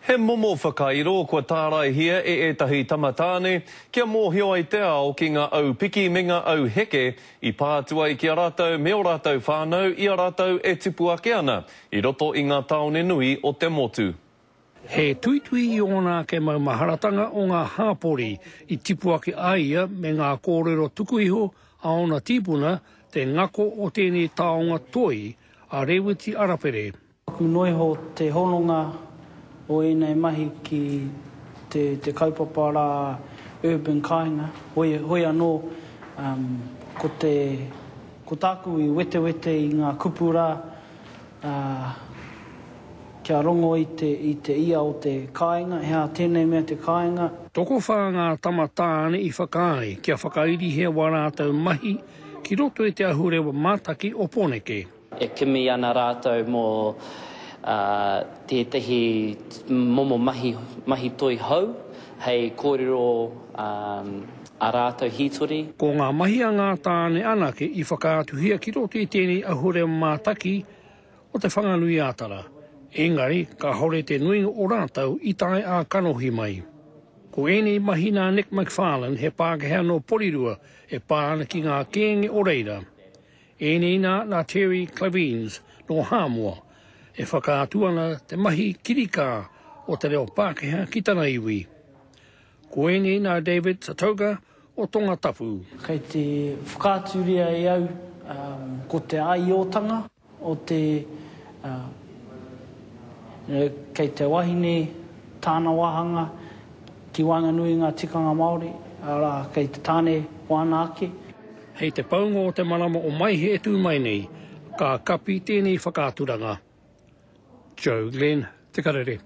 He momo whakairo kua tāraihia e ētahi tamatāne kia mōhio ai te ao ki ngā au piki me ngā au heke i pā atu ai ki a rātou me ō rātou whānau i a rātou e tupu ake ana i roto i ngā tāone nui o te motu. He tuitui i ōna ake maumaharatanga o ngā hāpori i tipu ake a ia me ngā kōrero tuku iho a ōna tīpuna, te ngako o tēnei taonga toi a Rēwiti Arapere. Paku noa iho te hononga o ēnei mahi ki te kaupapa rā Urban Kāinga, hoi anō ko tāku i wetewete i ngā kupu rā kia rongo i te ia o te kāinga, he aha tēnei mea te kāinga. Tokowhā ngā tama tāne i whakaae kia whakairihe wā rātou mahi ki roto i te ahurewa mātaki o Poneke. E kimi ana rātou mō tētahi momo mahi, mahi toi hou hei kōrero ā rātou hītori. Ko ngā mahi a ngā tāne anake i whakaatuhia ki roto i tēnei ahurea mātaki o Te Whanganui-ā-Tara, engari kāore te nuinga o rātou i tae ā-kanohi mai. Ko ēnei mahi nā Nick McFarlane, he Pākehā nō Porirua e pā ana ki ngā kēnge o reira, Iniina nā Terry Clavines nō Hāmoa, e whakaatu ana te mahi kirikā o te reo Pākehā ki tana iwi. Ko ēnei nā David Satouga o Tonga Tapu. Kei te whakaaturia e au ko te aiotanga o te kei te wahine tāna wāhanga ki waenganui i ngā tikanga Māori, arā, kei te tāne wāna ake. Hei te paunga o te marama o Maehe e tū mai nei, ka kapi tēnei whakaaturanga. Joe Glenn, Te Karere.